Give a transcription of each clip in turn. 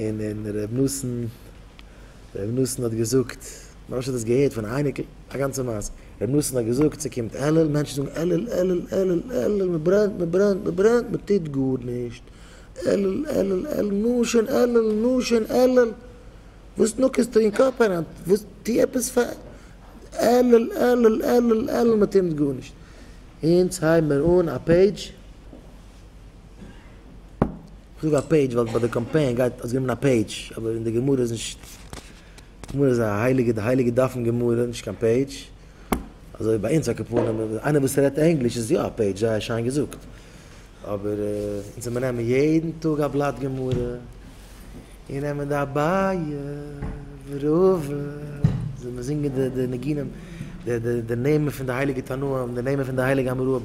און און ר' נתן ר' נתן האט געזאגט, מרן ש האט עס געהערט פון א אייניקל, א גאנצע מעשה, ר' נתן האט געזאגט ס'קומט אלול, מענטשן זאגן אלול אלול אלול אלול, מ'ברענט מ'ברענט מ'ברענט, מ'טוט גארנישט, אלול אלול אלול, נו שוין אלול נו שוין אלול, וואס נאקעסטו אין קאפ אריין, וואס טו עפעס פאר, אלול אלול אלול אלול, מ'טוט גארנישט, אונז הייבן מיר אן א פעידזש. איך זאג א פעידזש ווייל ביי די קאמפיין גייט האסט גענומען א פעידזש אבער אין די גמרא איז נישט גמרא איז א הייליגע די הייליגע דף אין גמרא נישט קיין פעידזש אזוי ביי אונז א קאפארנע איינער וואס רעדט ענגליש איז יא א פעידזש זייער שיין געזאגט אבער אונז זעמיר נעמען יעדן טאג א בלאט גמרא און נעמען די אביי וראובן זעמיר זינגען די ניגונים די די די נעמען פון די הייליגע תנאים די נעמען פון די הייליגע אמוראים.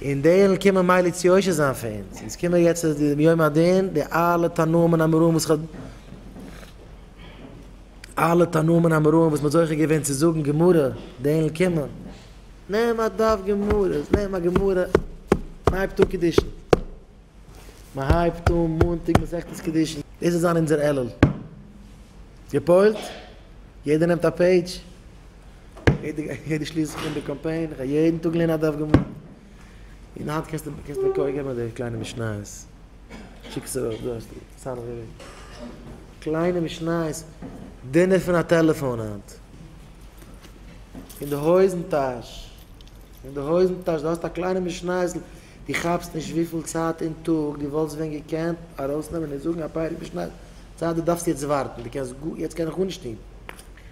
און די אינגל קומען מילא צו יושר זיין פאר אונז, אונז קומען יעצט אז די יום הדין, די אלע תנאים און אמוראים וואס כ'האב, אלע תנאים און אמוראים וואס מ'האט זוכה געווען צו זאגן גמרא, די אינגל קומען, נעם א דף גמרא, נעם א גמרא, מ'הייבט אן קידושין, מ'הייבט אן מאנטאג מסכת קידושין, דאס וועט זיין אונזער עלול, גע'פועל'ט? יעדער נעמט א פעידזש, יעדע שליסל פון די קאמפיין, איך האב יעדן טאג געלערנט א דף גמרא, און היינט קענסטו קענסטו מיר קויער געבן אזעלכע קליינע משניות, שיק עס ארויף, דא האסטו סנהדרין, קליינע משניות, דינער פון א טעלעפאן היינט, אין די הויזן טאש, אין די הויזן טאש, דו האסט א קליינע משניות'ל, דו כאפסט נישט וויפיל צייט אין טאג דו וואלסט ווען געקענט ארויסנעמען און זאגן א פרק משניות, צייט דו דארפסט יעצט ווארטן, דו קענסט גא, יעצט קען איך גארנישט טון.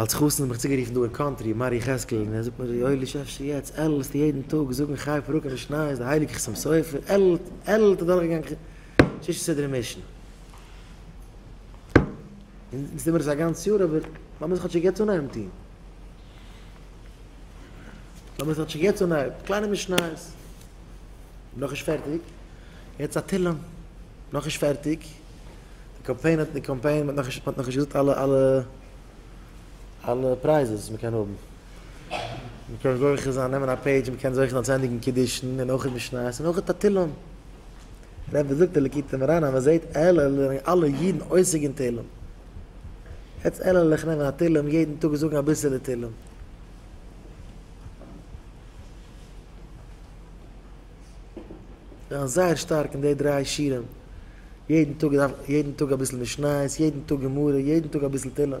אלס חתן האב איך צוגערופן דא אין קאנטרי מר יחזקאל און ער זאגט מיר יואלי שאפשר יעצט עללסטו יעדן טאג זאגן חי פרוק אין די שניי איז די הייליגע חתם סופר עללט אדורכגעגאנגען ששת סדרי משנה און יעצט טועמער עס א גאנץ יאר אבער לאמיר עס כאטשיג יעצט אנהייבן טון לאמיר עס כאטשיג יעצט אנהייבן קליינע משניות נאכנישט פערטיג יעצט א תהלים נאכנישט פערטיג די קאמפיין האט די קאמפיין האט נאך האט נאכנישט געזאגט אלע אלע אלע פרייזעס וואס מ'קען האבן. מ'קען זוכה זיין נעמען א פעידזש מ'קען זוכה זיין צו ענדיגן קידושין און אויך משניות און אויך א תהלים. ר' וואס זאגט די ליקוטי מוהרן אז מ'זעהט עלעלעך זענען אלע אידן עוסק אין תהלים. יעצט עלעלעך נעמען א תהלים יעדן טאג זאגן אביסעלע תהלים. זיין זייער שטארק אין די דריי שיעורים, יעדן טאג יעדן טאג אביסל משניות, יעדן טאג גמרא, יעדן טאג אביסל תהילים.